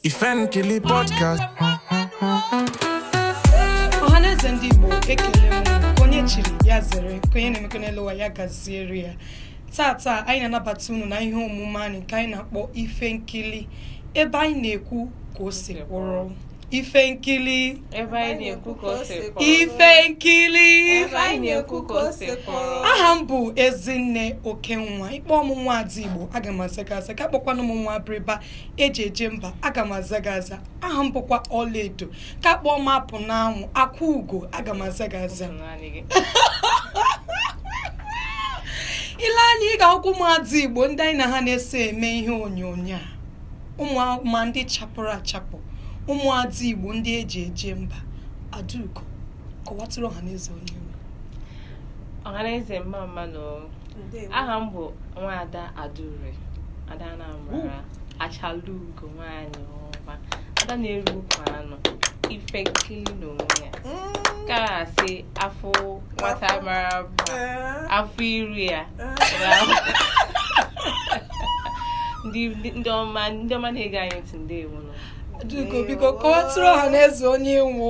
Ife Nkili Podcast. ọhaneze ndị igbo ekele m nke onye chiri ya zere nke onye na-emekọ n'elu ụwa ya gaziere ya tata anyị na-anabata unu na ihe omume anyị nke anyị na-akpọ ife nkili ebe anyị na-ekwu ka o si kwụrụ ife nkili ebe anyị na-ekwu ka o si kwụrụ ife nkili ebe anyị na-ekwu ka o si kwụrụ aha m bụ ezinne okenwa ị kpọọ mụ nwa ada igbo aga m aza gị aza ka a kpọkwanụ m nwa abịrịba eji eje mba aga m aza gị aza aha m bụkwa ọlaedo ka a kpọọ m apụnanwụ akwa ugo aga m aza gị aza i lee anya ị ga-ahụkwa ụmụada igbo ndị anyị na ha na-eso eme ihe onyonyo a ụmụma ndị chapụrụ achapụ ụmụada igbo ndị eji eje mba adaugo kọwatụrụ ọha na eze onye ị wụ ọhaneze mma mma nụ aha m bụ nwaada adaure ada anambra achalugo nwaanyị ọma ada na-eri ukwu anụ ife nkili n'onwe ya mm. ka a sị a fụ nwata mara mma eh. a fụ iru ya eh. ndị ọma ndị ọma na-ege anyị ntị ndewo nụ biko biko kọwatụrụ ọha na eze onye ị wụ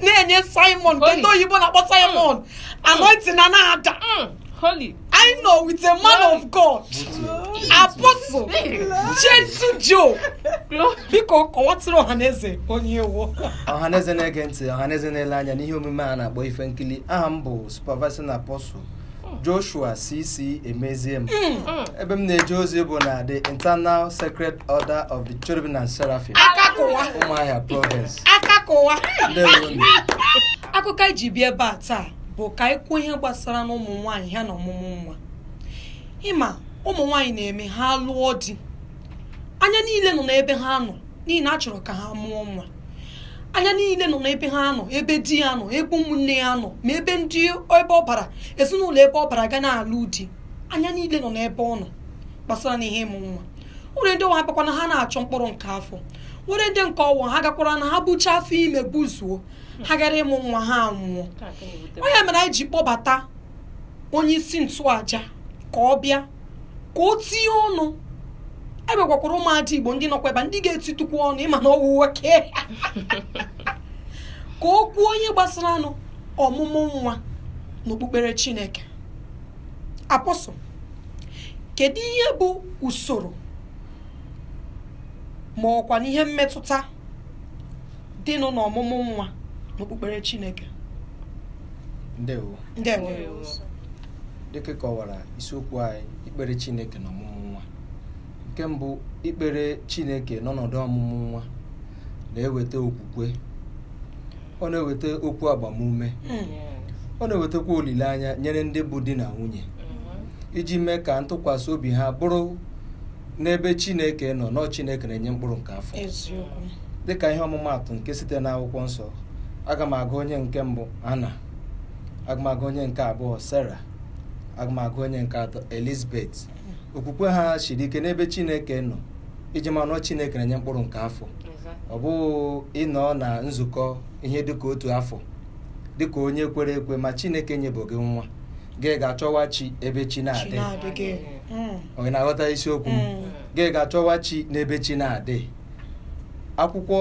na-enye sermon Holy. ndị oyibo na-akpọ sermon anointing na na-ada Mm, holy anyị nọ with a man of god apostle gentle joe glory biko kọwatụrụ ọha na eze onye ị wụ ọhaneze na-ege ntị ọhaneze na-ele anya n'ihe omume a na-akpọ ife nkili aha m bụ supervising apostle Joshua CC Emeziem ebe m na-eje ozi bụ na the Eternal Sacred Order of the Cherubim and Seraphim Ụmụahịa Province akụkọ anyị ji bịa ebe a taa bụ ka anyị kwuo ihe gbasara na ụmụ nwaanyị ha na ọmụmụ nwa ị ma ụmụ nwaanyị na-eme ha lụọ di anya niile nọ n'ebe ha nọ n'ihi na a chọrọ ka ha mụọ nwa anya niile nọ n'ebe ha nọ ebe di ya nọ ebe ụmụnne ya nọ ma ebe ndị ebe ọ bara ezinụlọ ebe ọ bara ga na-alụ di anya niile nọ n'ebe ọ nọ gbasara na ihe ịmụ nwa nwere ndị ọ wụ abakwa na ha na-achọ mkpụrụ nke afọ nwere ndị nke ọ wụ ha gakwara na ha bucha afọ ime buzuo ha gara ịmụ nwa ha nwụọ ọ ya mere anyị ji kpọbata onye isi nchụaja ka ọ bịa ka o tinye ọnụ e nwekwakwara ụmụada igbo ndị nọkwa ebe a ndị ga-etitukwu ọnụ ị ma na ọ wụ nwoke ka o kwuonụ ihe gbasaranụ ọmụmụ nwa n'okpukpere chineke apostle kedu ihe bụ usoro ma ọ kwanụ ihe mmetụta dịnụ n'ọmụmụ nwa n'okpukpere chineke ndewo ndewo dịka ị kọwara isiokwu anyị ikpere chineke na ọmụmụ nwa nke mbụ ikpere chineke n'ọnọdụ ọmụmụ nwa na-eweta okwukwe ọ na-eweta okwu agbamume ọ na-ewetakwa olileanya nyere ndị bụ di na nwunye iji mee ka ntụkwasị obi ha bụrụ n'ebe chineke nọ na ọ chineke na-enye mkpụrụ nke afọ eziokwu dịka ihe ọmụmaatụ nke site n'akwụkwọ nsọ aga m agụ onye nke mbụ ana aga m agụ onye nke abụọ Sera aga m agụ onye nke atọ Elizabet okwukwe ha siri ike n'ebe Chineke nọ iji ma na ọ Chineke na-enye mkpụrụ nke afọ ọ bụghị ị nọọ na nzukọ ihe dịka otu afọ dịka onye kwere ekwe ma Chineke enyebeghị gị nwa gị ga-achọwa chi ebe chi na-adịghị onye na-aghọta isiokwu gị ga-achọwa chi n'ebe chi na-adịghị akwụkwọ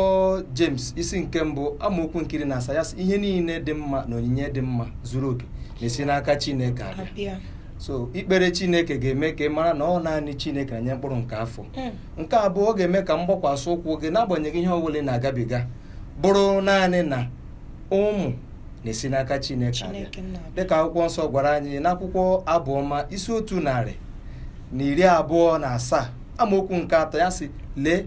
James isi nke mbụ amaokwu nke iri na asaa sị ihe niile dị mma na onyinye dị mma zuru oke na-esi n'aka Chineke abịa so ikpere Chineke ga-eme ka ị mara na ọ naanị Chineke na-enye mkpụrụ nke afọ hmm. nke abụọ ọ ga-eme ka mgbakwasị ụkwụ gị n'agbanyeghị ihe ọ bụla ị na-agabiga bụrụ naanị na ụmụ na-esi n'aka Chineke abịa dịka akwụkwọ nsọ gwara anyị n'akwụkwọ abụọma isi otu narị na iri abụọ na asaa amaokwu nke atọ ya sị lee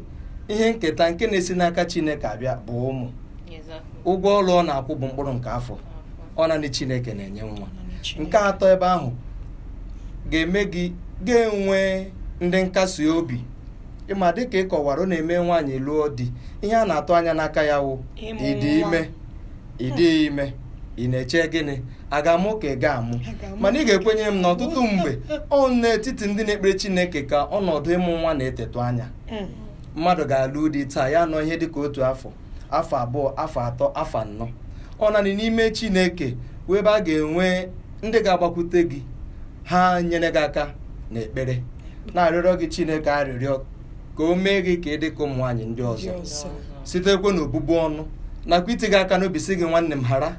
ihe nketa nke na-esi n'aka chineke abịa bụ ụmụ ụgwọ ọrụ ọ na-akwụ bụ mkpụrụ nke afọ ọ naanị chineke na-enye nwa nke atọ ebe ahụ ga-eme gị ga-enwe ndị nkasi obi ị ma dịka ị kọwara ọ na-eme nwaanyị lụọ di ihe a na-atụ anya n'aka ya wụ ịdị ime ị dịghị ime ị na-eche gịnị a ga-amụ ka ị ga-amụ mana ị ga-ekwenye m na ọtụtụ mgbe ọ n'etiti ndị na-ekpere Chineke ka ọnọdụ ịmụ nwa na-etetụ anya hmm. mmadụ ga-alụ di taa ya nọ ihe dịka otu afọ afọ abụọ afọ atọ afọ anọ ọ nanị n'ime Chineke wụ ebe a ga-enwe ndị ga-agbakwute gị ha nyere gị aka n'ekpere na-arịọrọ gị Chineke arịrịọ ka o mee gị ka ị dị ka ụmụ nwaanyị ndị ọzọ sitekwa n'obubu ọnụ nakwa iti gị aka n'obi sị gị nwanne m hara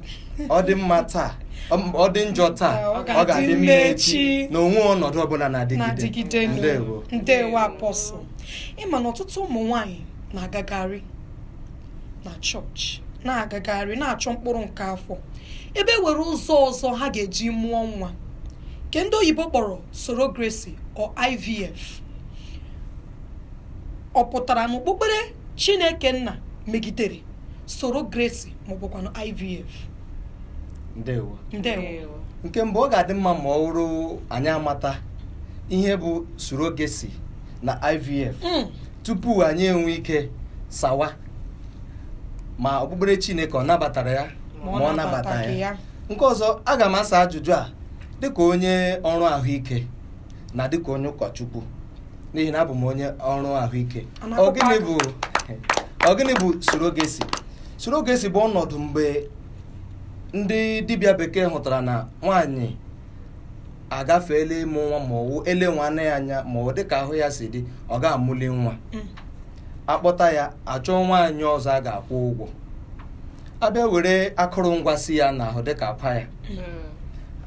ọ dị mma taa ọ- ọ dị njọ taa ọ ga-adị mma echi na o nweghị ọnọdụ ọbụla na-adịgide ndewo apọstụl ị ma na ọtụtụ ụmụ nwanyị na-agagharị na chọọchị na-agagharị na-achọ mkpụrụ nke afọ ebe e nwere ụzọ ọzọ ha ga-eji mụọ nwa nke ndị oyibo kpọrọ surrogacy or ivf ọ pụtara na okpukpere chineke nna megidere surogesi maọbụkwanụ ivf ndewo ndewo nke mbụ ọ ga-adị mma ma ọ wụrụ anyị amata ihe bụ surogesi na ivf Mm. tupu anyị enwe ike sawa ma okpukpere chineke ọ nabatara ya ma ọ nabataghị ya nke ọzọ aga m asa ajụjụ a dịka onye ọrụ ahụike na dịka onye ụkọchukwu n'ihi na abụ m onye ọrụ ahụike ọ gịnị bụ surogesi surogesi bụ ọnọdụ mgbe ndị dibịa bekee hụtara na nwaanyị agafeela ịmụ nwa ma ọwụ ele nwaanyị anya ma ọ dịka ahụ ya si dị ọ ga-amụli nwa mm. akpọta ya achọọ nwaanyị ọzọ a ga-akwụ ụgwọ abịa were akụrụngwa si ya n'ahụ dịka akwa ya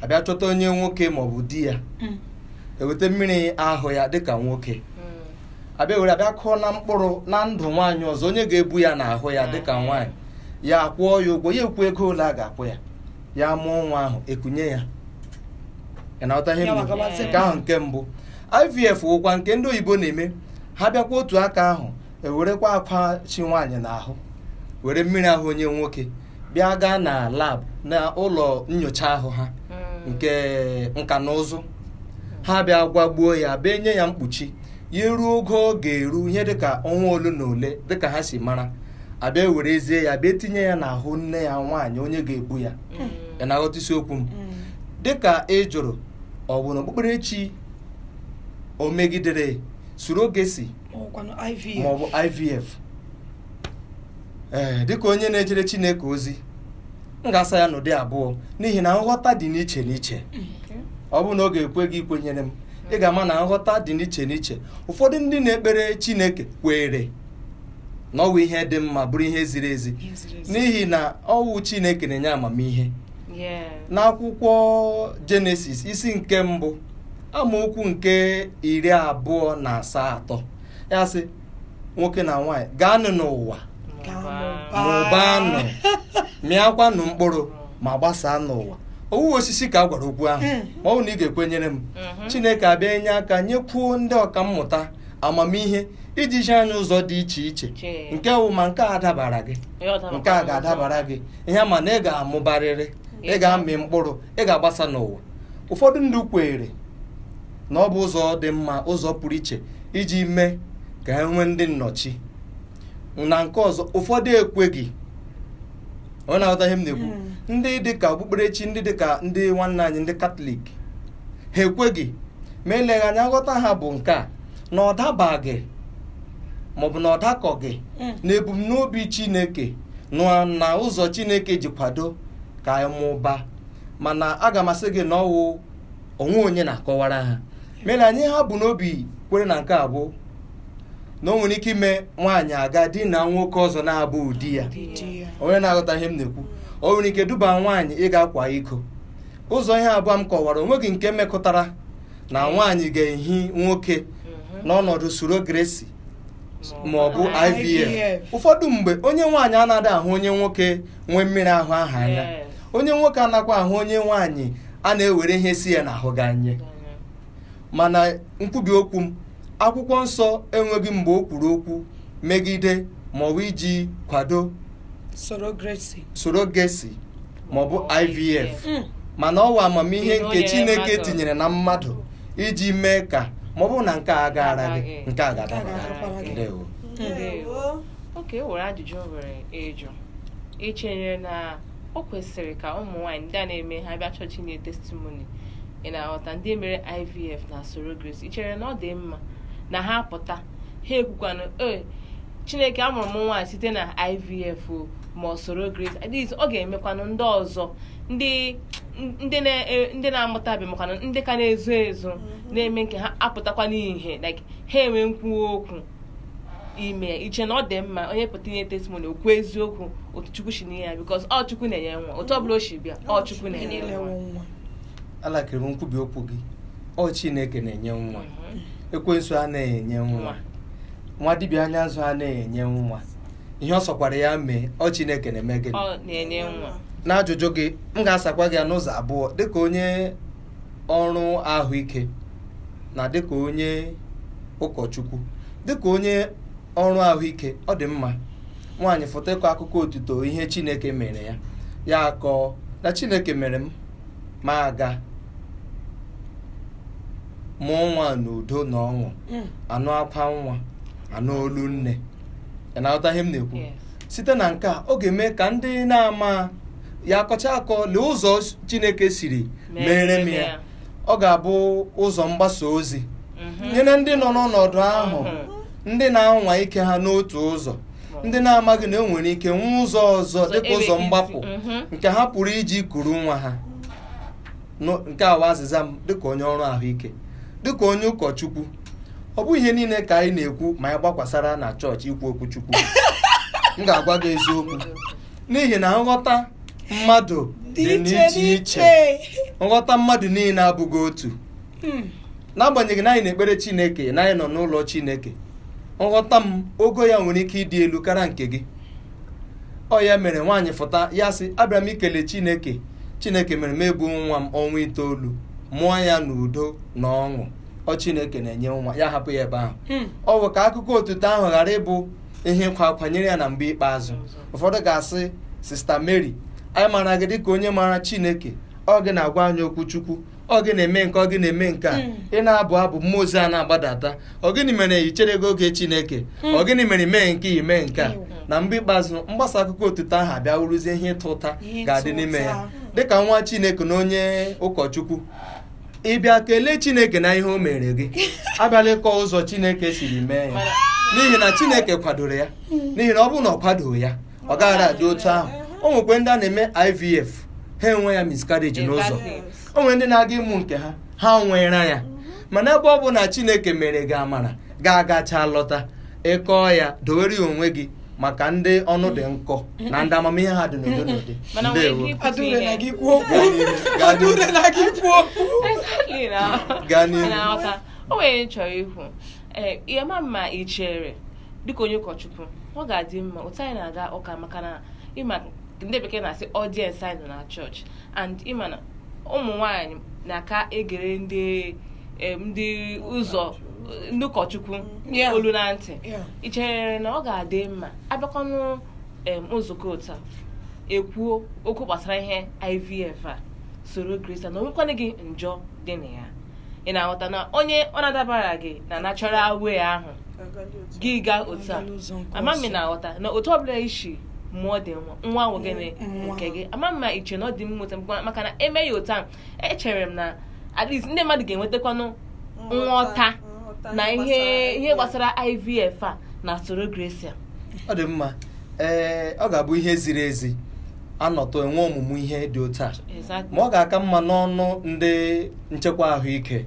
abịa chọta onye nwoke maọbụ di ya eweta mmiri ahụ ya dịka nwoke abịa were abịa kụọ na mkpụrụ na ndụ nwaanyị ọzọ onye ga-ebu ya n'ahụ ya dịka nwaanyị ya akwụọ ya ụgwọ ya ekwu ego ole a ga-akwụ ya ya mụọ nwa ahụ ekunye ya ị na-aghọta ihe Ya ngwa gabazie. nke ahụ nke mbụ ivf wụkwa nke ndị oyibo na-eme ha bịakwa otu aka ahụ ewerekwa akwa chi nwaanyị n'ahụ were mmiri ahụ onye nwoke bịa gaa na lab na ụlọ nyocha ahụ ha hmm. nke nka na ụzụ ha bịa gwagbuo ya bịa nye ya mkpuchi ya ruo oge ọ ga-eru ihe dịka ọnwa ole na ole dịka ha si mara abịa werezie ya bịa tinye ya n'ahụ nne ya nwaanyị onye ga-ebu ya hmm. ị na-aghọta isiokwu m hmm. dịka ị jụrụ ọ bụ na okpukperechi o megidere surogesi ọkwanụ iv ma ọ bụ ivf ee dịka onye na-ejere chineke ozi m ga-asa ya n'ụdị abụọ n'ihi na nghọta dị n'iche n'iche ọ bụ na ọ ga-ekwe gị ikwenyere m ị ga-ama na nghọta dị n'iche n'iche ụfọdụ ndị na-ekpere chineke kweere na ọwụ ihe dị mma bụrụ ihe ziri ezi Ihe ziri ezi. n'ihi na ọwụ chineke na-enye amamihe Yeah. n'akwụkwọ jenesis isi nke mbụ amaokwu nke iri abụọ na asatọ ya sị nwoke na nwaanyị gaanụ n'ụwa mụbaanụ mịakwanụ mkpụrụ ma gbasaa n'ụwa ọwụghị osisi ka a gwara okwu ahụ hmm. ma ọ bụ na ị ga-ekwenyere m mhm. chineke abịa enye aka nyekwuo ndị ọkammụta amamihe iji zi anyị ụzọ dị iche iche nke wụ ma nke a dabara gị nke a ga-adabara gị ihe ma na ị ga-amụbarịrị ị ga-amị mkpụrụ ị ga-agbasa n'ụwa ụfọdụ ndị kweere na ọ bụ ụzọ dị mma ụzọ pụrụ iche iji mee ka ha nwee ndị nnọchi na nke ọzọ ụfọdụ ekweghị onye na-aghọta ihe m na-ekwu hmm. ndị dịka okpukperechi ndị dịka ndị nwanne anyị ndị katọlik ha ekweghị ma eleghị anya nghọta ha bụ nke a na ọ dabaghị maọbụ na ọ dakọghị hmm. na ebumnobi chineke na ụzọ chineke ji kwado ka anyị mụba mana aga m asị gị na ọwụ onwe onye na-akọwara ha mere anyị ha bu n'obi kwere na nke a bụ na o nwere ike ime nwaanyị aga dina nwoke ọzọ na-abụghị di ya onye na-aghọta ihe m na-ekwu o nwere ike duba nwaanyị ịga akwa iko ụzọ ihe abụọ m kọwara onweghị nke mekọtara na nwaanyị ga-ehi nwoke n'ọnọdụ surrogacy ma ọ bụ IVF ụfọdụ mgbe onye nwaanyị anaghị ahụ onye nwoke nwe mmiri ahụ ahụ anya Yes. onye nwoke anakwa ahụ onye nwaanyị a na-ewere ihe si ya n'ahụ gị anya mana nkwubi okwu m akwụkwọ nsọ enweghị mgbe o kwuru okwu megide maọbụ iji kwado surrogacy maọbụ ivf Mm. mana ọwụ amamihe Ihe o nke nyere chineke mmadụ. tinyere na mmadụ iji mee ka maọbụ na nke a agaara gị nke a ga-adabara Nke a ga-adabara gị. gị ndewo Ndewo. okay e nwere ajụjụ o nwere ịjụ i chere na o kwesịrị ka ụmụ nwaanyị ndị a na-eme ha bịa chọọchị nye testimoni ị na-aghọta ndị mere ivf na surrogacy i chere na ọ dị mma na ha pụta ha ekwukwanụ ee chineke amụrụ m nwaanyị site na ivf o ma ọ surrogacy at least ọ ga-emekwanụ ndị ọzọ ndị ndị e, na-amụtabe makwanụ ndị ka na-ezo ezo mm-hmm. na-eme nke ha apụtakwa n'ihe like ha enwe nkwuwa okwu ime i che na ọ dị mma onye pụta inye testimony o kwuo eziokwu otu chukwu si nye ya because ọ chukwu na-enye nwa otu ọbụla o si bịa ọ chukwu na-enye nwa alakịrị m nkwubi okwu gị ọ chineke na-enye nwa mhm. ekwensu anaghị enye nwa nwa dibịa anya nzu anaghị enye nwa ihe ọ sọkwara ya mee ọ chineke na-eme gịnị n'ajụjụ gị m ga-asakwa gị ya n'ụzọ abụọ dịka onye ọrụ ahụike na dịka onye ụkọchukwu dịka onye ọrụ ahụike ọ dị mma nwaanyị fụta kọọ akụkọ otuto ihe chineke mere ya ya akọọ na chineke mere m mụ aga mụọ nwa n'udo na ọṅụ hmm. a nụ akwa nwa a nụ olu nne ị na-aghọta ihe m na-ekwu site na nke a ọ ga-eme ka ndị na-ama ya akọcha akọ lee ụzọ chineke siri meere m ya ọ ga-abụ ụzọ mgbasa ozi mhm. nyere ndị nọ n'ọnọdụ ahụ mhm. ndị na-anwa ike ha n'otu ụzọ ndị na-amaghị na enwere ike nwee ụzọ ọzọ dịka ụzọ mgbapụ mhm. nke ha pụrụ iji kuru nwa ha nke a wụ azịza m dịka onye ọrụ ahụike dịka onye ụkọchukwu ọ bụghị ihe niile ka anyị na-ekwu ma anyị gbakwasara na chọọchị ikwu okwu chukwu m ga-agwa gị eziokwu n'ihi na nghọta mmadụ dị n'iche iche nghọta mmadụ niile abụghị otu hmm. n'agbanyeghị na anyị na-ekpere chineke na anyị nọ n'ụlọ chineke nghọta m ogo ya nwere ike ịdị elu karịa nke gị ọ ya mere nwaanyị fụta ya sị abịara m ikele chineke chineke mere m ebu nwa m ọnwa itoolu mụọ ya n'udo na ọṅụ ọ chineke na-enye nwa ya hapụ ya ebe ahụ Hmm. ọ bụ ka akụkọ otuto ahụ ghara ịbụ ihe ịkwa akwa nyere ya na mgbe ikpeazụ ụfọdụ ga-asị sista mary anyị maara gị dịka onye maara chineke ọ gị na-agwa anyị okwu chukwu ọ gị na-eme nke ọ gị na-eme nke a hmm. ị na-abụ abụ mmụọ ozi a na-agbadata ọ gịnị mere i chereghị oge chineke hmm. ọ gịnị mere i mee nke i mee nke a hmm. na mgbe ikpeazụ mgbasa akụkọ otuto ahụ abịa wụrụzie ihe ịta ụta ga-adị n'ime ya dịka nwa chineke na onye ụkọchukwu ị bịa kelee chineke na ihe o mere gị abịala ịkọ ụzọ chineke siri mee ya n'ihi na chineke kwadoro ya n'ihi na ọ bụrụ na ọ kwadoghị ya ọ gaghị adị otu ahụ o nwekwe ndị a na-eme IVF ha enwe ya miscarriage n'ụzọ o nwere ndị na-aga ịmụ nke ha ha nwere ya mana ebe ọ bụ na Chineke mere gị amara gị agacha lọta ịkọọ ya dowere ya onwe gị maka ndị ọnụ dị nkọ na ndị amamihe ha dị n'ụdị n'ụdị Mana nwere ike ikwu Adure na gị kwuo okwu. Adure na gị kwuo okwu. Exactly na. Gaa n'ihu. Na-aghọta. O nwere ihe m chọrọ ikwu. Ee, ihe ma mma i chere dịka onye ụkọchukwu ọ ga-adị mma otu anyị na-aga ụka maka na ị ma ndị bekee na-asị audience anyị nọ na chọọchị and ị ma na ụmụ nwaanyị na-aka egere ndị em, ndị ụzọ ndị ụkọchukwu Yeah. olu na ntị Yeah. ị chere na ọ ga-adị mma abịakwanụ em, nzukọ otu a ekwuo okwu gbasara ihe ivf na surrogacy na o nwekwanụghị njọ dị na ya ị na-aghọta na onye ọ na-adabaraghị na natural way ahụ gị gaa otu a ama m ị na-aghọta na otu ọbụla i si mụọ dị nwa nwa wụ gịnị nke gị ama m ma i che na ọ dị mma otu a maka na e mee ya otu a echere m na at least ndị mmadụ ga-enwetakwanụ nghọta na ihe ihe gbasara IVF a na surrogacy ọ dị mma ee ọ ga-abụ ihe ziri ezi anọtụ enwe ọmụmụ ihe dị otu a ma ọ ga-aka mma n'ọnụ ndị nchekwa ahụike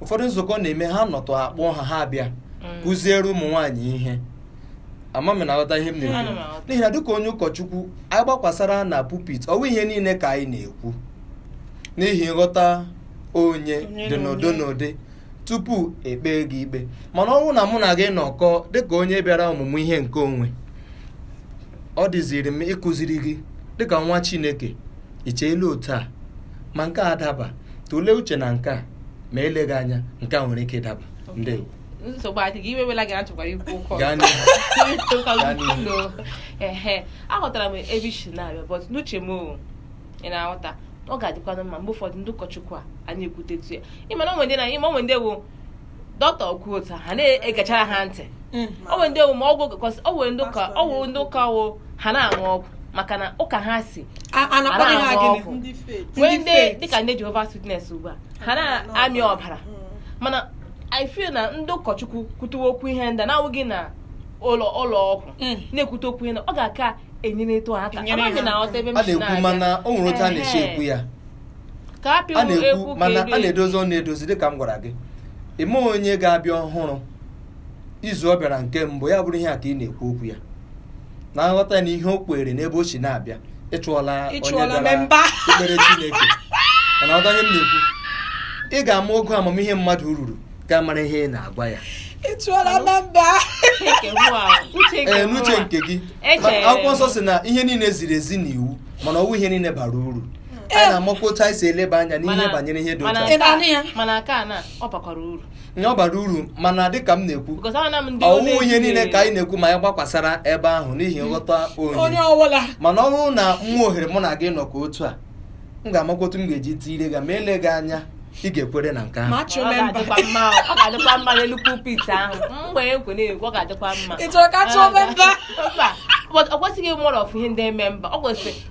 ụfọdụ nzukọ na-eme ha nọtụ akpọọ ha ha abịa kụziere ụmụ nwaanyị ihe ama m ị na-aghọta ihe m Ana m na-ekwu aghọta. n'ihi na dịka onye ụkọchukwu anyị gbakwasara na pulpit ọwụ ihe niile ka anyị na-ekwu n'ihi nghọta onye Onye dị na n'ụdị onye. n'ụdị tupu ekpee gị ikpe mana ọ bụrụ na mụ na gị nọkọ dịka onye bịara ọmụmụ ihe nke onwe ọ dịziri m ịkụziri gị dịka nwa chineke icheela otu a ma nke a adaba tụlee uche na nke a ma eleghị anya nke a nwere ike ịdaba ndewo nsogbu adịghị iwe ewela gị achọkwara ikwu ụkọ ehe aghọtara m ebe i si na-abịa but n'uche m ị na-aghọta ọ ga-adịkwanụ mma mgbe ụfọdụ ndị ụkọchukwu a anyị ekwutetu ya ị ma na o nwe ndị na ị ma o nwe ndị ọ wụ dọkịta okwu otu ha na-egechara ha ntị mm. o nwere ndị omume ọgwụ o nwere ndị ụka o nwere ndị ụka wụ ha na-aṅụ ọgwụ maka na ụka ha sị ana aṅụ ọgwụ nwee ndị dịka ndị Jehova Witness ugbu a ha na-amị ọbara mm. mana I feel na ndị ụkọchukwu kwutuwe okwu ihe ndị na-awụghị na ụlọ ụlọ ọgwụ mm. na-ekwute okwu ihe ọ ga-aka enyeretụ aka amaghị ị na-aghọta ebe m si na-abịa a na-ekwu mana o nwere otu a na-esi ekwu ya ka a pịwa a na-ekwu ekwu ka mana edu a edu. na-edozi ọ na-edozi dịka m gwara gị i nwee onye ga-abịa ọhụrụ izu ọ bịara nke mbụ ya bụrụ ihe a ka ị na-ekwu okwu ya na nghọta na ihe o kwere n'ebe o si na-abịa ịchụọla onye Ịchụọla bịara memba. ikpere Chineke mana ghọta ihe m na-ekwu ị ga-ama ogo amamihe mmadụ ruru ka ị mara ihe ị na-agwa ya ị chụọla na mba Uche nke mụ a, uche nke ee mụ n'uche a. nke gị Echere m. akwụkwọ nsọ sị na ihe niile ziri ezi n'iwu mana ọwụ ihe niile bara uru a na-amakwa otu anyị si eleba anya n'ihe banyere ihe dị otu a ọ bara uru mana dịka m na-ekwu ọwụ ihe niile ka anyị na-ekwu ma anyị gbakwasara ebe ahụ n'ihi nghọta onye mana ọ bụrụ na nwa ohere mụ na gị nọ ka otu a m ga-amakwa otu m ga-eji tiire gị ma eleghị anya ị ga-ekwere na nke ahụ ọ kwesịghị mmadụ ọfụ ihe ndị eme mba ọ kwesịrị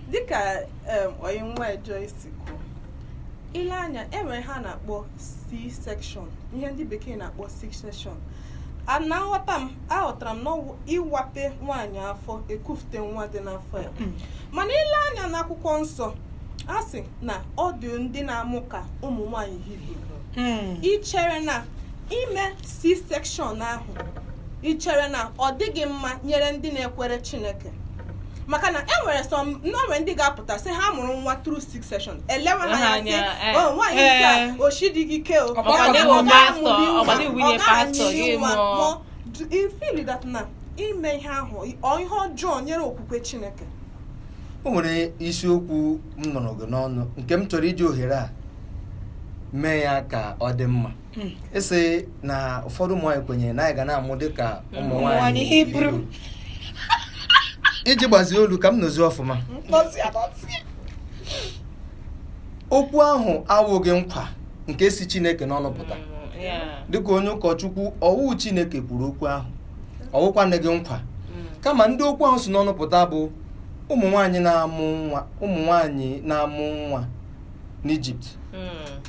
dịka onye nwa Joyce kwuru i lee anya e nwere ihe a na-akpọ C-section ihe ndị bekee na-akpọ C-section na nghọta m aghọtara m na ọ wụ ịwape nwaanyị afọ ekufute nwa dị n'afọ ya hmm. mana i lee anya n'akwụkwọ nsọ a sị na ọ dị ndị na-amụ ka ụmụ nwaanyị hibru hmm. i chere na ime C-section ahụ ị chere na ọ dịghị mma nyere ndị na-ekwere Chineke maka na e nwere some o nwe ndị ga-apụta sị ha mụrụ nwa through C-section elewe ha anya sị eh. oh, nwaanyị eh. nke a oshidịghị ike o ị feel that na ime ihe ahụ ọ ihe ọjọọ nyere okwukwe chineke o nwere isiokwu m nụrụ gị n'ọnụ nke m chọrọ iji ohere a mee ya ka ọ dị mma hmm. ịsị na ụfọdụ ụmụ nwaanyị kwenyere na anyị ga na-amụ dịka ụmụ nwaanyị hibru iji gbazie olu ka m nụzie ọfụma okwu ahụ awụghị nkwa nke si Chineke n'ọnụ pụta hmm, dịka onye ụkọchukwu ọ wụ Chineke kwuru okwu ahụ ọ wụkwanụghị nkwa hmm. kama ndị okwu ahụ si n'ọnụ pụta bụ ụmụ nwaanyị na-amụ nwa ụmụ nwaanyị na-amụ nwa n'Ijipt hmm.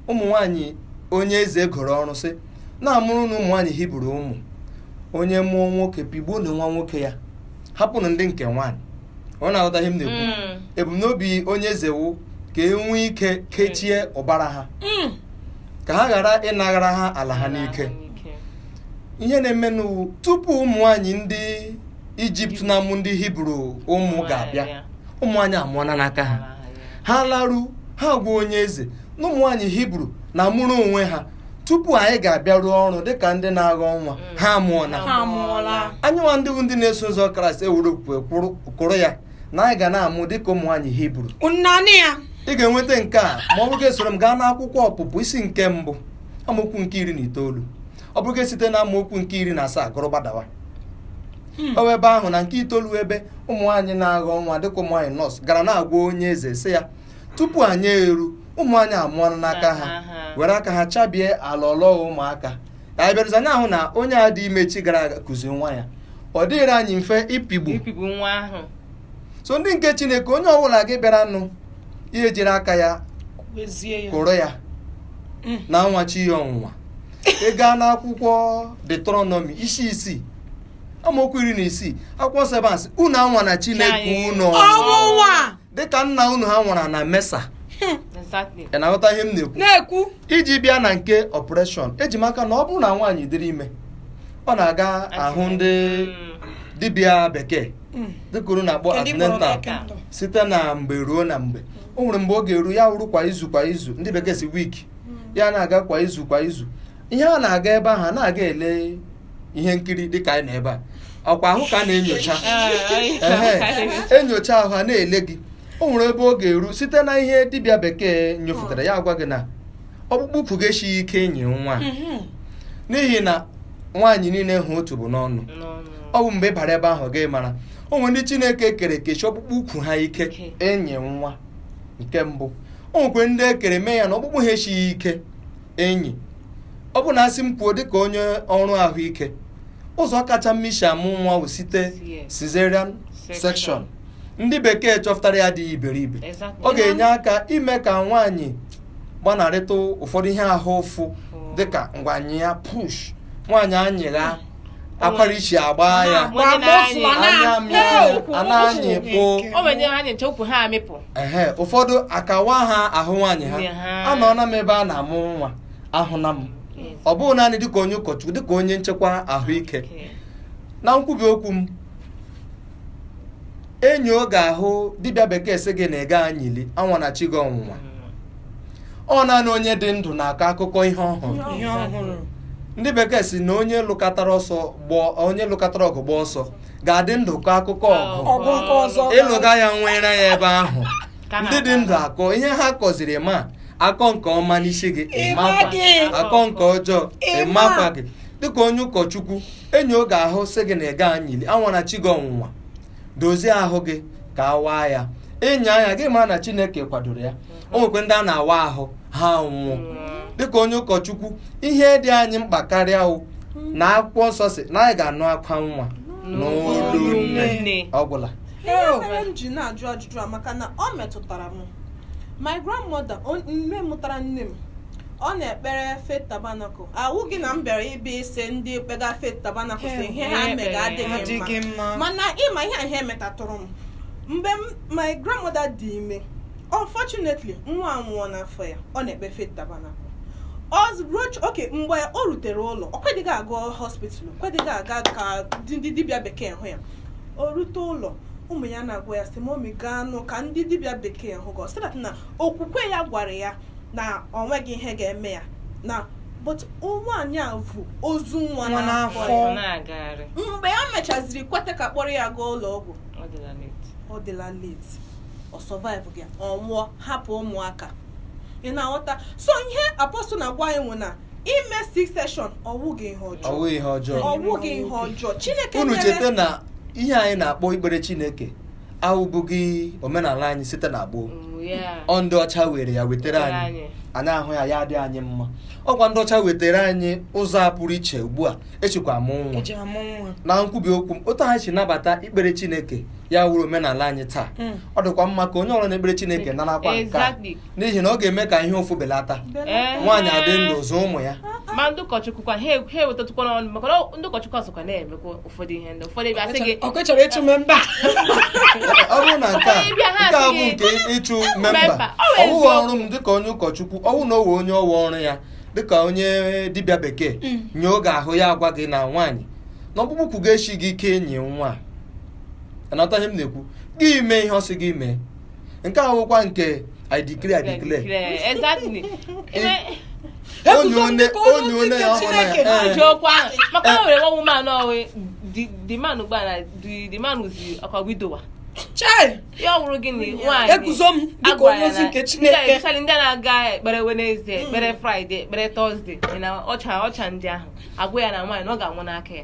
ụmụ nwaanyị onye eze goro ọrụ sị na-amụrụnụ ụmụ nwaanyị hibru ụmụ onye mụọ nwoke pịgbuonụ nwa nwoke ya hapụnụ ndị nke nwaanyị ọ na-aghọta ihe m na-ekwu Mm. ebumnobi onye eze wụ ka e nwee ike kechie ụbara ha Mm. ka ha ghara ịnaghara ha ala ha n'ike ihe na-emenụ wụ tupu ụmụ nwaanyị ndị ijipt na-amụ ndị hibru ụmụ ga-abịa ụmụ nwaanyị amụọla n'aka ha ha laru ha agwa onye eze na ụmụ nwaanyị hibru na-amụrụ onwe ha tupu anyị ga-abịa rụọ ọrụ dịka ndị na-aghọ nwa ha amụọla ha amụọla anyị nwa ndị bụ ndị na-eso ụzọ kraịst ewere okwukwe kwụrụ- kwụrụ ya na anyị ga na-amụ dịka ụmụ nwaanyị hibru nnanị ya ị ga-enweta nke a ma ọ bụrụ gị soro m gaa n'akwụkwọ ọpụpụ isi nke mbụ amaokwu nke iri na itoolu ọ bụrụ gị site na amaokwu nke iri na asaa gụrụ gbadawa ọ wụ ebe ahụ na nke itoolu ebe ụmụ nwaanyị na-aghọ nwa dịka ụmụ nwaanyị nọọsụ gara na-agwa onye eze sị ya tupu anyị eru ụmụ nwaanyị amụọla n'aka ha were aka ha chabie alọlọ ụmụaka ka anyị bịarụzi anyị ahụ na onye a dị ime chi gara aga kuzi nwa ya ọ dịghịrị anyị mfe ịpịgbu ịpịgbu nwa ahụ so ndị nke chineke onye ọbụla gị bịara nụ ihe jiri aka ya kwezie ya kụrụ ya Mm. na-anwa chi ya ọnwụnwa ị gaa n'akwụkwọ detronọmi isi isii amaokwu iri na isii akwụkwọ nsọ ebe a sị unu anwana chineke Anyị- unu ọnwụnwa dịka nna unu ha nwara na mesa ị na-aghọta ihe m na-ekwu iji bịa na nke ọpụreshọn eji maka na ọ bụrụ na nwaanyị dịrị ime ọ na-aga ahụ ndị hmm. dibịa bekee hmm. dịka unu na-akpọ antenatal site na mgbe ruo na mgbe o nwere mgbe ọ ga-eru ya wụrụ kwa izu kwa izu ndị bekee sị wiki hmm. ya na-aga kwa izu kwa izu ihe a na-aga ebe ahụ na-aga ele ihe nkiri dịka anyị nọ ebe a ọkwa ahụ ka a na-enyocha Ehe, enyocha ahụ a na-ele gị o nwere ebe ọ ga-eru site na ihe dibịa bekee nyofụtara ya agwa gị na ọkpụkpụ ukwu gị esighị ike enyi nwa n'ihi na nwaanyị niile wụ otu bụ n'ọnụ ọ bụ mgbe ị bara ebe ahụ gị mara o nwere ndị chineke kere kesi ọkpụkpụ ukwu ha ike Ike. enyi nwa nke mbụ o nwekwe ndị e kere mee ya na ọkpụkpụ ha esighị ike enyi ọ bụ na a sị m kwuo dịka onye ọrụ ahụike ụzọ kacha mma isi amụ nwa bụ site cesarean section ndị bekee chọpụtara ya adịghị iberibe ọ ga-enye aka ime ka nwaanyị gbanarịta ụfọdụ ihe ahụ ụfụ dịka ngwa nyịa push nwaanyị anyịgha akwara isi agba ya anya mmiri a na-anyịkpụ ehe ụfọdụ akawa ha ahụ nwaanyị ha anọọla m ebe a na-amụ nwa ahụla m ọ bụghị naanị dịka onye ụkọchukwu dịka onye nchekwa ahụike na nkwubi okwu m enyi oge ahụ dibịa bekee sị gị na ị gaghị anyịli anwana chi gị ọnwụnwa ọ naanị onye dị ndụ na-akọ akụkọ ihe ọ hụrụ ndị bekee sị na onye lụkatara ọsọ onye lụkatara ọgụ gbaa ọsọ ga-adị ndụ kọọ akụkọ ọgụ ị lụga ya nwụrụ ya ebe ahụ ndị dị ndụ akọ ihe ha kọziri ma a kọọ nke ọma n'isi gị a kọọ nke ọjọọ ị makwaghị dịka onye ụkọchukwu enyi oge ahụ sị gị na ị gaghị anyịli anwana chi gị ọnwụnwa dozie ahụ gị ka a waa ya ịnya anya gị mara na chineke kwadoro ya o nwekwe ndị a na-awa ahụ ha nwụọ dịka onye ụkọchukwu ihe dị anyị mkpa karịa wụ na akwụkwọ nsọ sị na anyị ga-anụ akwa nwa n'olu nne ọ gwụla ihe mere m ji na-ajụ ajụjụ a maka na o metụtara m my grandmother on- nne mụtara nne m ọ na-ekpere faith tabernacle awụghị na m bịara ịbịa ise ndị kpega faith tabernacle sị ihe ha mega adịghị mma mana ị ma ihe a metatụrụ m mgbe m- my grandmother dị ime unfortunately nwa anwụọ n'afọ ya ọ na-ekpe faith tabernacle mgbe o rutere ụlọ o kwedịghị aga hospital kwedịghị aga ka ndị dibịa bekee hụ ya o rute ụlọ ụmụ ya na-agwa ya sị momi gaa nụ ka ndị dibịa bekee hụ gị ọ sị that na okwukwe ya gwara ya na o nweghị ihe ga-eme ya na but nwaanyị a bu ozu nwa n'afọ mgbe ya mechaziri kweta ka a kpọrọ ya gaa ụlọ ọgwụ ọ dịla late ọ surviveghị ọ nwụọ hapụ ụmụaka ị na-aghọta so ihe apọstụl na-agwa anyị wụ na ime c section ọ wụghị ihe ọjọọ ọ wụghị ihe ọjọọ chineke unu cheta na ihe anyị na-akpọ ikpere chineke awụbụghị omenala anyị site na gboo Mm, yeah. ọ ndị ọcha were ya wetara anyị anyị ahụ ya ya adị anyị mma ọ kwa ndị ọcha wetara anyị ụzọ a pụrụ iche ugbu a echekwa mụ nwa e ji amụ nwa na nkwubi okwu m otu anyị si nabata ikpere chineke ya wuru omenala anyị taa mm. ọ dịkwa mma ka onye ọrụ na-ekpere Chineke narakwa nke a n'ihi na ọ ga-eme ka ihe ụfụ belata nwaanyị adị ndụ zụ ụmụ ya ma ndị ụkọchukwu kwa ha ewetatụkwa n'ọnụ maka na ndị ụkọchukwu sokwa na-emekwa ụfọdụ ihe ndị ụfọdụ ebe asị gị ọ chọrọ ịchụ memba ọ bụrụ na nke a nke a bụ nke ịchụ memba ọ bụghị ọrụ m dịka onye ụkọchukwu ọ bụrụ na o nwee onye ọ wụ ọrụ ya dịka onye dibịa bekee mm. nyoo gị ahụ ya agwa gị na nwaanyị na ọkpụkpụ ukwu gị eshighị ike ịnyị nwa anata ihe m na-ekwu gị mee ihe ọ sị gị mee nke a wụkwa nke i declare i declare Declare, exactly. Ebe- onye one onye one ya ọhụrụ ya ee. Jụọkwa, maka na o nwere one woman ọ wụ the the man gba na the the man wụzi ọkwa widower chai ya ọ wụrụ gịnị nwaanyị eguzo m dịka agwara onye ozi na- nke ndị a- chineke especially ndị a na-aga ekpere wenezde ekpere fraịde ekpere tọzde na ọcha ọcha ndị ahụ agwa ya na nwaanyị na ọ ga-amụ n'aka ya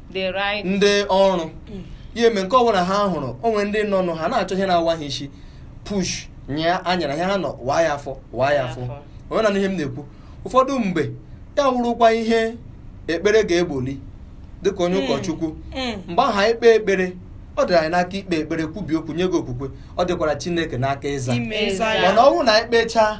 the right ndị ọrụ ya eme nke ọbụla ha hụrụ o nwere ndị nọ nụ ha na-achọ ihe na-awa ha isi push nyịa anyara ihe ha nọ waa ya afọ waa ya afọ onwe na ihe m na-ekwu ụfọdụ mgbe ya wụrụkwa ihe ekpere ga-egboli dịka onye Mm. ụkọchukwu Mm. mgbe ahụ anyị kpee ekpere ọ dịrị anyị n'aka ikpe ekpere kwubi okwu nye gị okwukwe ọ dịkwara chineke n'aka ịza Ime Ịza ya. mana ọ bụrụ na anyị kpechaa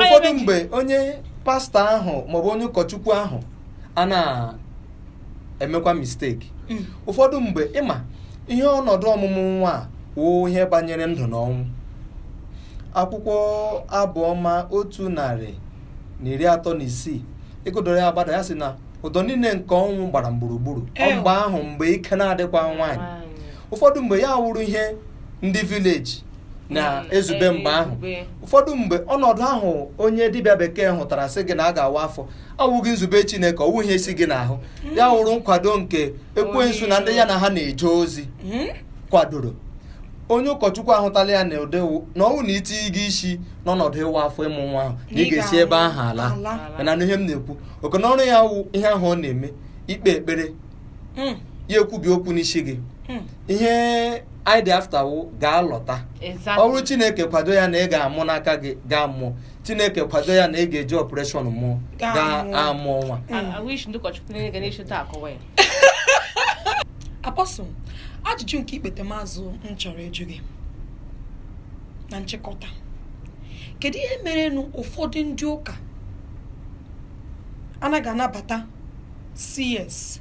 ụfọdụ mgbe onye pastọ ahụ maọbụ onye ụkọchukwu ahụ ana-emekwa misteki mm. ụfọdụ mgbe ị ma ihe ọnọdụ ọmụmụ nwa a wụ ihe banyere ndụ na ọnwụ akwụkwọ abụọma otu narị na iri atọ na isii ị gụdoro ya agbada ya sị na ụdọ niile nke ọnwụ gbara m gburugburu mgbe ahụ mgbe ike na-adịkwa nwaanyị ụfọdụ mgbe ya wụrụ ihe ndị vileji na-ezube mm, mgbe eh, ahụ ụfọdụ mgbe ọnọdụ ahụ onye dibịa bekee hụtara sị gị na a ga-awa afọ awụghị nzube Chineke ọ wụ ihe si gị n'ahụ mm. ya wụrụ nkwado nke ekwensu na ndị ya na ha na-eje ozi mm. kwadoro onye ụkọchukwu ahụtala ya na ụdị na ọnwụ na i tinye gị isi n'ọnọdụ ịwa afọ ịmụ nwa ahụ na ị ga-esi ebe ahụ ala mana ihe m na-ekwu oke na ọrụ ya wụ ihe ahụ ọ na-eme ikpe ekpere hmm. ya ekwubi okwu n'isi gị hmm. ihe anyị dị afta wụ gị alọta ọ wụrụ chineke kwado ya na ị ga-amụ n'aka gị gị amụọ chineke kwado ya na ị ga-eji ọpụreshọn mụọ gị amụọ nwa apọsụl ajụjụ nke ikpetemazụ m chọrọ ịjụ gị na nchịkọta kedu ihe merenụ ụfọdụ ndị ụka anaghị anabata CS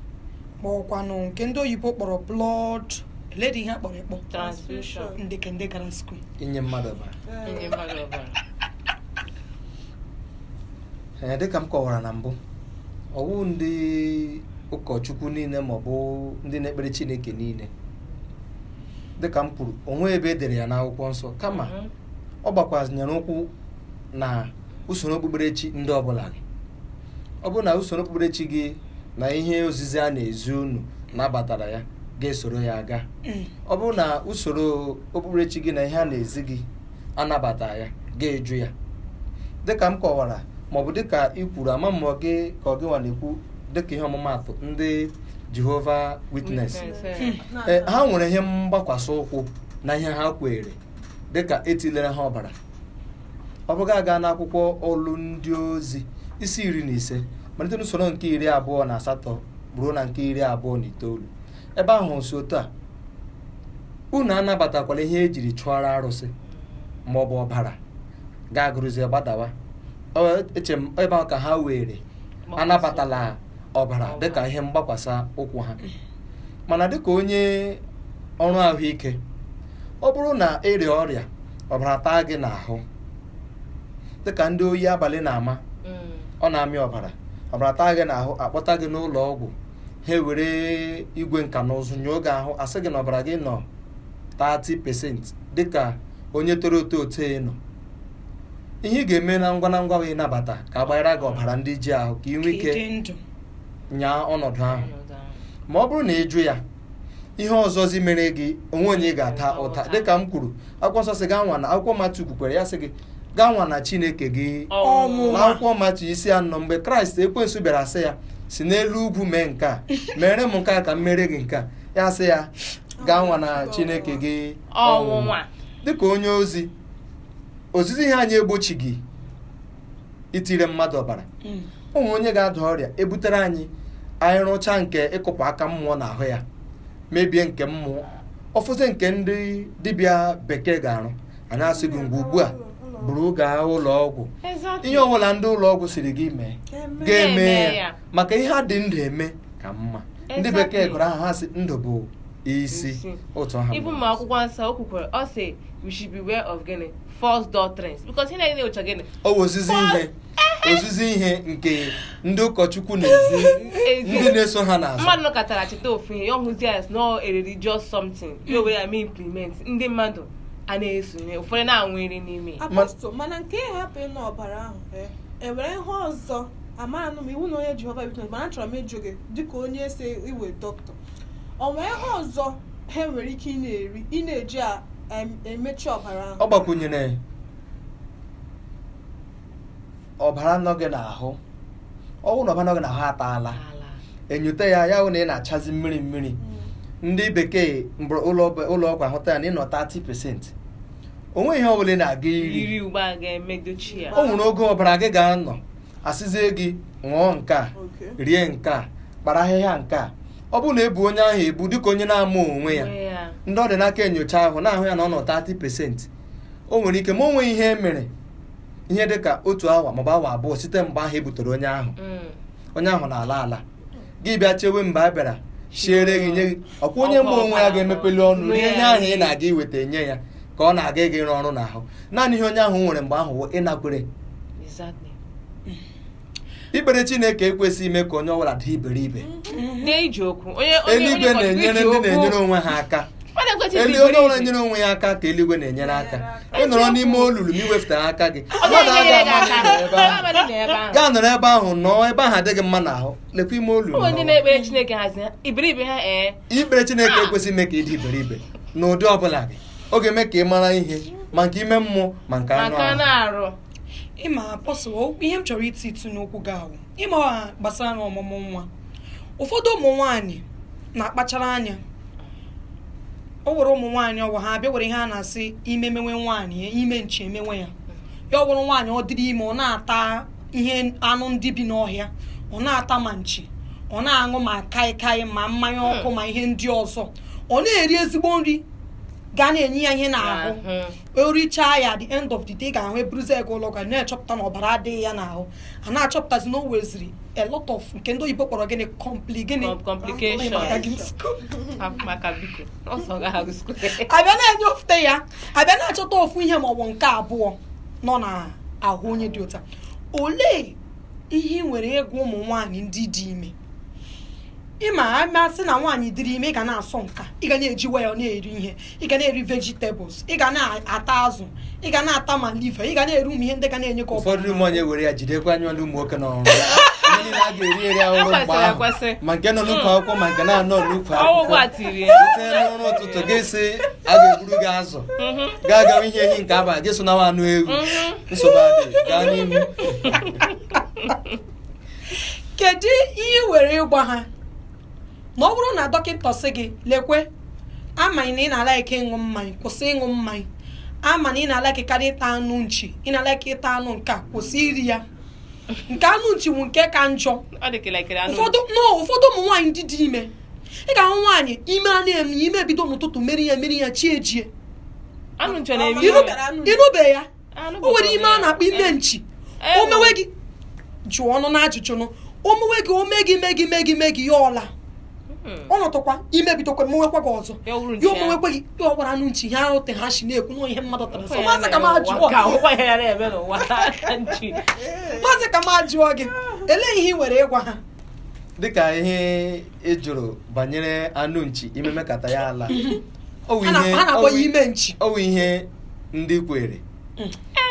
ma ọkwanụ nke ndị oyibo kpọrọ blood eledị ihe a kpọrọ ekpọ transfusion ndị ka ndị gara skul inye mmadụ ọbara inye mmadụ ọbara ee dịka m kọwara na mbụ ọ wụ ndị ụkọchukwu niile maọbụ ndị na-ekpere chineke niile dịka m kwuru o nweghị ebe e dere ya n'akwụkwọ nsọ kama Mhm. ọ gbakwazịnyere ụkwụ na usoro okpukperechi ndị ọbụla gị ọ bụrụ na usoro okpukperechi gị na ihe ozizi a na-ezi unu nabatara ya ga-esoro ya aga ọ bụrụ na usoro okpukperechi gị na ihe a na-ezi gị anabataghị ya ga-ajụ ya dịka m kọwara maọbụ dịka ị kwuru ama m ma ọ gị ka ọ gị nwa na-ekwu dịka ihe ọmụmaatụ ndị Jehova Witness Witness, eh. Eh, ha nwere ihe mgbakwasị ụkwụ na ihe ha kweere dịka etilere ha ọbara ọ bụrụ gị aga n'akwụkwọ ọlụ ndị ozi isi iri na ise malite n'usoro nke iri abụọ na asatọ ruo na nke iri abụọ na itoolu ebe ahụ sị otu a unu anabatakwala ihe e jiri chụọra arụsị ma ọ bụ ọbara gị agụrụzie gbadawa Ọ- eche m ebe ahụ ka ha were anabatala ọbara dịka ihe mgbakwasa ụkwụ ha mana dịka onye ọrụ ahụike ọ bụrụ na ị rịa ọrịa ọbara taa gị n'ahụ dịka ndị oyi abalị na-ama ọ na-amị ọbara ọbara taa gị n'ahụ a kpọta gị n'ụlọ ọgwụ ha ewere igwe nka na ụzụ nyoo gị ahụ a sị gị na ọbara gị nọ 30 pesenti dịka onye toro eto ote nọ ihe ị ga-eme na ngwa na ngwa wee nabata ka a gbanyere gị ọbara ndị ji ahụ ka ị nwee ike ịdị ndụ nyaa ọnọdụ ahụ Ọnọdụ ahụ. ma ọ bụrụ na ị jụ ya ihe ọzọzi mere gị o nweghị onye ị ga-ata ụta dịka m kwuru akwụkwọ nsọ sị gị anwana akwụkwọ matiu kwukwara ya sị gị anwana chineke gị Ọnwụ. na akwụkwọ matiu isi anọ mgbe kraịst ekwensu bịara sị ya si n'elu ugwu mee nke a mere m nke a ka m mere gị nke a ya sị ya gị anwana chineke gị ọnwụnwa dịka onye ozi ozizi ihe anyị egbochighị itire mmadụ ọbara Mm. o nwee onye ga-ada ọrịa e butere anyị anyị rụcha nke ịkụpụ aka mmụọ n'ahụ ya mebie nke mmụọ ọ fọzi nke ndị dibịa bekee ga-arụ anyị asị gị ngwa ugbu a buru gaa ụlọ ọgwụ Exactly. ihe ọbụla ndị ụlọ ọgwụ sịrị gị mee Ga-eme ga-eme ya. ya maka ihe a dị ndụ eme ka mma ndị bekee gụrụ aha ha sị ndụ bụ isi otu aha even ma akwụkwọ nsọ o kwukwara ọ sị we should beware of gịnị false doctrines because ihe na-enye ụcha gịnị o ozizi ihe ozizi ihe nke ndị ụkọchukwu na-ezi ndị na-eso ha n'azụ mmadụ nọkọtara cheta ofu ihe ya ọ hụzi ya na religious something ya o were ya mee implement ndị mmadụ a na-esonye ụfọdụ na-anwụ iri n'ime mana nke hapụ ịnụ ọbara ahụ eh, e nwere ihe ọzọ amaanụ m ị wụnụ onye jehova witness mana achọrọ m ịjụ gị dịka onye esi ị wụ dọkịta o nwere ihe ọzọ ha nwere ike ị na-eri ị na-eji a- em- emechi ọbara ahụ ọ gbakwunyere ọbara nọ gị n'ahụ ọ bụrụ na ọbara nọ gị n'ahụ ataala Ala. enyote ya ya hụ na ị na-achazi mmiri mmiri Mm. ndị bekee eburu ụlọ ọgwụ ahụta ya na ị nọ 30 pesenti o nweghị ihe ọbụla ị na-aga iri eri ugbu a ga-emedochi ya o nwere oge ọbara gị ga-anọ asịzie gị ṅụọ nke a Okay. rie nke a kpara ahịhịa nke a ọ bụrụ na ebu onye ahụ ebu dịka onye na-ama onwe ya Onwe ya. ndị ọ dị n'aka enyocha ahụ na-ahụ ya na ọ nọ 30 pesenti o nwere ike ma o nweghị ihe e mere ihe dịka otu awa maọbụ awa abụọ site mgbe ahụ e butere onye ahụ Mm. onye ahụ na-ala ala gị bịa chewe mgbe a bịara siere gị nye gị ọkwa onye ma onwe ya ga-emepeli ọnụ ihe nye ahụ ị na-aga iweta enye ya ka ọ na-aga ịga ịrụ ọrụ n'ahụ naanị ihe onye ahụ nwere mgbe ahụ wụ ịnakwere ikpere chineke ekwesịghị ime ka onye ọbụla dị iberibe eluigwe na-enyere ndị na-enyere onwe ha aka elu onye ọbụla nyere onwe ya aka ka eluigwe na-enyere aka ị nọrọ n'ime olulu ma i wefụta aka gị mmadụ aga ama ya nọrọ ebe ahụ nọọ ebe ahụ adịghị mma n'ahụ lekwa ime olulu ikpere Chineke ekwesịghị ime ka ị dị iberibe n'ụdị ọbụla gị ọ ga-eme ka ị mara ihe ma nke ime mmụọ ma nke anụ arụ ị ma ihe m chọrọ iti itu n'okwu gị ahụ ị ma gbasara ọmụmụ nwa ụfọdụ ụmụ nwaanyị na-akpachara anya o were ụmụ nwaanyị ọ wụ ha bịa were ihe a na-asị ime mewe nwaanyị ime nchi emewe ya ya wụrụ nwaanyị ọ dịrị ime ọ na-ata ihe anụ ndị bi n'ọhịa ọ na-ata ma nchi ọ na-aṅụ ma kaịkaị ma mmanya hmm. ọkụ ma ihe ndị ọzọ ọ na-eri ezigbo nri ga na-enye ya ihe n'ahụ o richaa ya at the end of the day ga-ahụ eburuzie gaa ụlọ ọgwụ a na-achọpụta na ọbara adịghị ya n'ahụ a na-achọpụtazi na o weziri a lot of nke ndị oyibo kpọrọ gịnị compli gịnị abịa na-enyofute ya abịa na-achọta ofu ihe maọbụ nke abụọ nọ na ahụ onye dị otu a olee ihe ị nwere ịgwa ụmụ nwaanyị ndị dị ime ị ma a ma sị na nwaanyị dịrị ime ị ga na-asọ nka ị ga na-eji waya na-eri ihe ị ga na-eri vegetables ị ga na-ata azụ ị ga na-ata ma liva ị ga na-eri ụmụ ihe ndị ga na-enye aka ụfọdụ ụmụ nwaanyị were ya jidekwa anya ọlụ ụmụ nwoke n'ọrụ ndị na-aga eri eri a hụrụ mgbe ahụ ma nke nọ n'ukwu akwụkwọ ma nke na-anọ n'ukwu akwụkwọ site n'ụrụ ụtụtụ gị sị a ga-egburu gị azụ mhm. gaa gawa ihe ehi nke abalị gị so nawa anụ ewu mhm. nsogbu adịghị gaa n'ihu kedu ihe ị nwere ịgwa ha na ọ bụrụ na dọkịta sị gị lekwe ama na ị na-ala ike ịṅụ mmanya kwụsị ịṅụ mmanya ama na ị na-ala ike karịa ịta anụ nchi ị na-ala ike ịta anụ nke a kwụsị iri ya nke anụ nchi bụ nke ka njọ Ọ dị ka elekere anụ. ụfọdụ no ụfọdụ ụmụ nwaanyị ndị dị ime ị ga-ahụ nwaanyị ime a na-eme ya ime ebido n'ụtụtụ mere ya mere ya chi ejie Anụ nchi na-eme Iru- ihere. ị nụbe ya o nwere ime a na-akpọ ime nchi o mewe gị jụọ ọnụ na ajụjụ nụ o mewe gị o mee gị mee gị mee gị mee gị ya ọla hmm. ọ nọtụkwa ime ebidokwa mewekwa gị ọzọ ya o mewekwa gị ya ọgbara anụ nchi ha ahụ te ha si na-ekwu na ihe mmadụ tara sọ maazị ka m jụọ maazị ka m jụọ gị elee ihe ị nwere ịgwa ha dịka ihe ị jụrụ banyere anụ nchi ime mekata ya ala ọ wụ Ha na- ihe- ha na-akpọ ọ wụ- ya ime nchi. ọ wụ ihe ndị kwere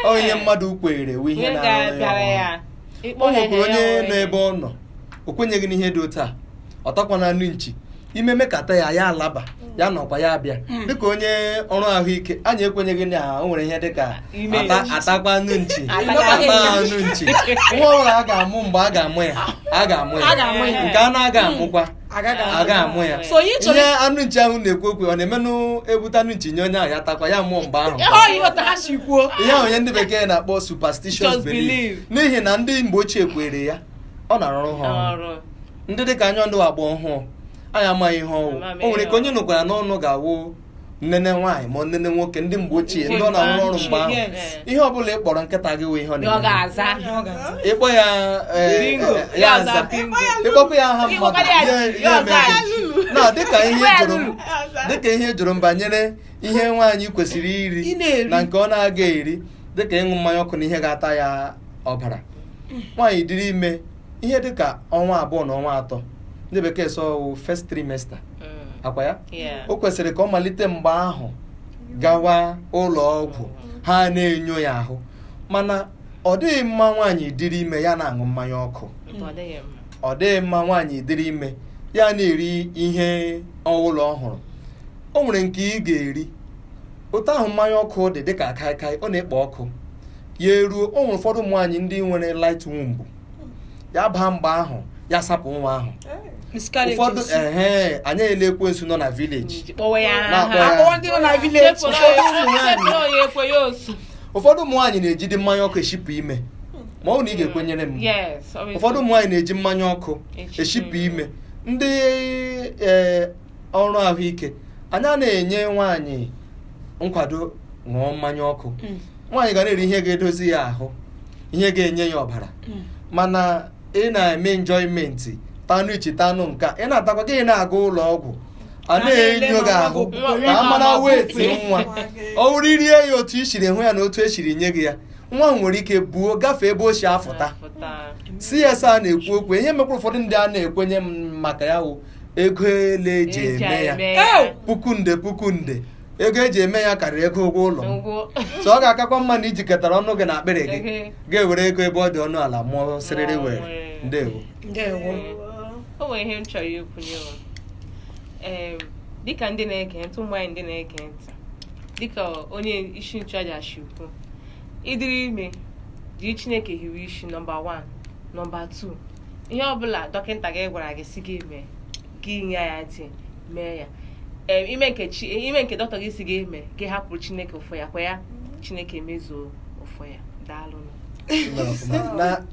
ọ wụ ihe mmadụ kwere wụ ihe Ihe na-arụ ya ga-abịara ọrụ. ya. Ịkpọ o ya nwekwara ihe onye ya nọ ebe ọ nọ o kwenyeghị n'ihe dị otu a ọ takwana anụ nchi ime mekata ya ya alaba ya nọkwa ya abịa hmm. dịka onye ọrụ ahụike anyị ekwenyeghị na o nwere ihe dịka a takwa anụ nchi anụ nchi nwa ọhụrụ a ga-amụ mgbe a ga-amụ ya a ga-amụ ya nke a na-aga hmm. amụkwa a ga-amụ ya ihe anụ nchi ahụ na-ekwu okwu ọ na-emenụ ebute anụ nchi nye onye ahụ ya takwa ya mụọ mgbe ahụ ihe ahụ ọ ihe ndị bekee na-akpọ superstitious belief n'ihi na ndị mgbe ochie kwere ya ọ na-arụrụ ha ọrụ ndị dịka anyị ndị agba ọhụụ anyị amaghị ihe ọ wụ Amaghị o nwere ike onye nụkwara n'ọnụ ga-awụ nnene nwaanyị ma nnene nwoke ndị mgbe ochie ndị ọ na-arụ ọrụ mgbe ahụ Yes. ihe ọ bụla ị kpọrọ nkịta gị wụ ihe ọ Ọ na-eme ga-aza. Ihe ọ ga-aza. ịkpọ ya eh, Bingo. eh, ya Ya aza aza bingo. ịkpọkwa ya aha mmadụ Ịkpọkwara ya ya- chi, ya ya aza mere. chi. na dịka ihe Ịkpọkwara ya jụrụ m lulu. dịka ihe ị jụrụ m banyere ihe nwaanyị kwesịrị Ị iri na-eri. na nke ọ na-aga eri dịka ịṅụ mmanya ọkụ na ihe ga-ata ya ọbara nwaanyị dịrị ime ihe dị ka ọnwa abụọ na ọnwa atọ ndị bekee sị ọ wụ first trimester mm. ọ kwa ya Yeah. o kwesịrị ka ọ malite mgbe ahụ gawa ụlọ ọgwụ ha na-enyo ya ahụ mana ọ dịghị mma nwaanyị dịrị ime ya na-aṅụ mmanya ọkụ Mba, ọ dịghị mma. ọ dịghị mma nwaanyị dịrị ime ya na-eri ihe ọ wụla ọ hụrụ o nwere nke ị ga-eri otu ahụ mmanya ọkụ dị dịka kaịkaị ọ na-ekpo ọkụ ya eruo o nwere ụfọdụ ụmụ nwaanyị ndị nwere light womb ya baa mgbe ahụ ya sapụ nwa ahụ ụfọdụ ehe anyị ele ekwensu nọ na village ụfọdụ ụmụ nwaanyị na-ejide mmanya ọkụ eshipụ ime ma ọ na ị hmm. ga-ekwenyere m ụfọdụ ụmụ nwaanyị na-eji mmanya ọkụ eshipụ ime ndị e, ọrụ ahụike anyị a na-enye nwaanyị nkwado ṅụọ mmanya ọkụ Mm. nwaanyị ga na-eri ihe ga-edozi ya ahụ ihe ga-enye ya ọbara Mm. mana ị na-eme enjoyment tanụ ichi tanụ nka ị na-atakwa gị na-aga ụlọ ọgwụ a A na-ele na-enyo gị ma ahụ nwa gị ka a mara nwa weight gị nwa nwa gị. ọ wụrụ i rie ya otu i siri hụ ya na otu e siri nye gị ya nwa ahụ nwere ike buo gafee ebe o si afụta Afụta. CS a na-ekwu okwu ihe mekwara ụfọdụ ndị a na-ekwenye maka ya wụ ego ele eji Eji eme ya eme ya. Ew! puku nde puku nde ego eji eme ya karịrị ego ụgwọ ụlọ m Ngwo. so ọ ga-akakwa mma na i jikọtara ọnụ gị na akpịrị gị Ehe. ga-ewere ego ebe ọ dị ọnụ ala mụọ sịrịrị Mụọ werere. ndewo ndewo o nwere ihe m chọrọ ikwunye ụwa ee dịka ndị na-ege ntị ụmụ nwaanyị ndị na-ege ntị dịka onye isi nchụaja si kwu ị dịrị ime jiri chineke hiwe isi nọmba 1 nọmba 2 ihe ọbụla dọkịta gị gwara gị sị gị mee gị nye ya ntị mee ya i mee nke chi i mee nke dọkịta gị sị gị mee gị hapụrụ chineke ụfọ ya kwa ya chineke mezuo ụfọ ya daalụ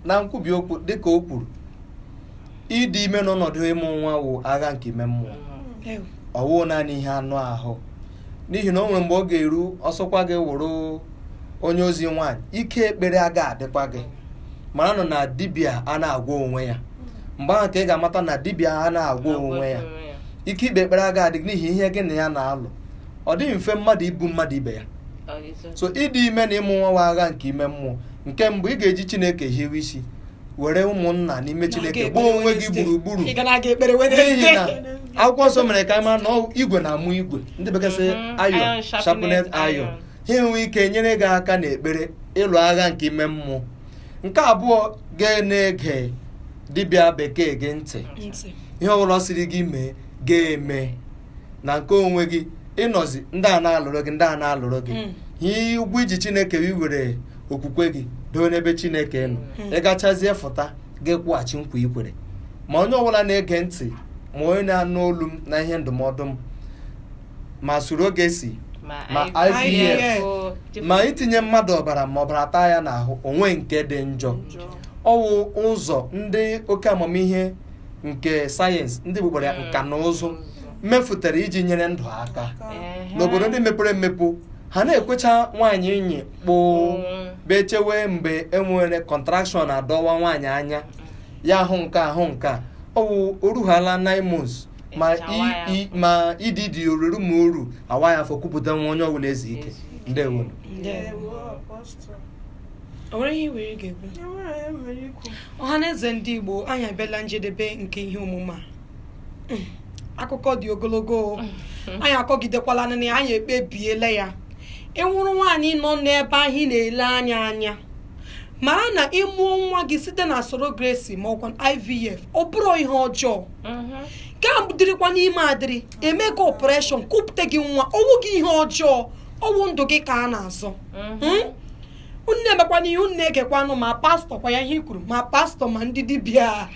na nkwubi okwu dịka o kwuru ịdị ime n'ọnọdụ ịmụ nwa wụ agha nke ime mmụọ mm. ọ wụ naanị ihe anụ ahụ n'ihi na o nwere mgbe ọ ga-eru ọ sọkwa gị wụrụ onye ozi nwaanyị ike ekpere aga adịkwa gị maranụ na dibịa a na-agwọ onwe ya mgbe ahụ ka ị ga-amata na dibịa a na-agwọ onwe ya ike ikpe ekpere aga adị n'ihi ihe gị na ya na-alụ ọ dịghị mfe mmadụ ibu mmadụ ibe ya so ịdị ime na ịmụ nwa wụ agha nke ime mmụọ nke mbụ ị ga-eji chineke hiwe isi were ụmụnna n'ime chineke gbaa onwe gị gburugburu n'ihi na akwụkwọ nsọ mere ka a mara na igwe na-amụ igwe ndị bekee sị mhm. iron sharpened iron ha enwee ike nyere gị aka n'ekpere ịlụ agha nke ime mmụọ nke abụọ ga na-ege dibịa bekee gị ntị ihe ọbụla ọ sịrị gị mee ga-eme na nke onwe gị ị nọzie ndị a na-alụrụ gị ndị a na-alụrụ gị Mm. ihe ụgwọ i ji chineke gị were okwukwe gị doo n'ebe chineke nọ Mm. ị gachazie fụta gị kwụghachi nkwa ikwere ma onye ọbụla na-ege ntị ma onye na-anụ olu m na ihe ndụmọdụ m ma surrogacy ma IVF. ma itinye mmadụ ọbara ma ọbara taa ya n'ahụ o nwe nke dị njọ ọ wụ ụzọ ndị oke amamihe nke sayensị ndị gbugbara ya nka na ụzụ mefụtara iji nyere ndụ aka Ehe. n'obodo ndị mepere emepe ha na-ekwecha nwaanyị inyi kpụụ Mm. bee chewe mgbe enwere contraction adọwa nwaanyị anya ya ahụ nke ahụ nke a ọ wụ o ruhala 9 months ma Echawa ya. i- i- ma EDD o ruru ma o ru a waa ya afọ kupụta nwa onye ọbụla ezuo ike Ezuo ike. ndewo Ndewo. Ndewo, Apostle. O nwere ihe nwere ga-ekwu? Ọha na eze ndị Igbo anyị abịala njedebe nke ihe omume a. Hmm, akụkọ dị ogologo anyị akọgidekwala na anyị ekpebiela ya. Ị wụrụ nwaanyị nọ n'ebe ahụ na-ele anyị anya. mara na ị mụọ nwa gị site na surrogacy ma ọ kwanụ IVF ọ bụrọ ihe ọjọọ mm-hmm. gị dịrịkwanụ ime adịrị e mee gị operation kupụta gị nwa ọ wụghị ihe ọjọọ ọ wụ ndụ gị ka a na-azọ mm-hmm. hmm? unu emekwana ihe unu na-egekwanụ ma pastọ kwa ya ihe i kwuru ma pastọ ma ndị dibịa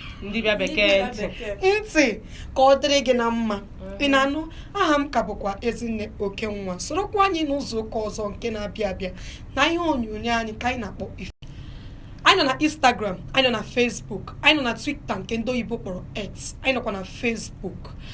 bekee ntị ka ọ dịrị gị na mma ị na-anụ aha m ka bụkwa Ezinne Okenwa sorokwa anyị n'izu ụka ọzọ nke na-abịa abịa na ihe onyonyo anyị ka anyị na-akpọ ife anyị nọ na instagram anyị nọ na facebook anyị nọ na twitter nke ndị oyibo kpọrọ x anyị nọkwa na facebook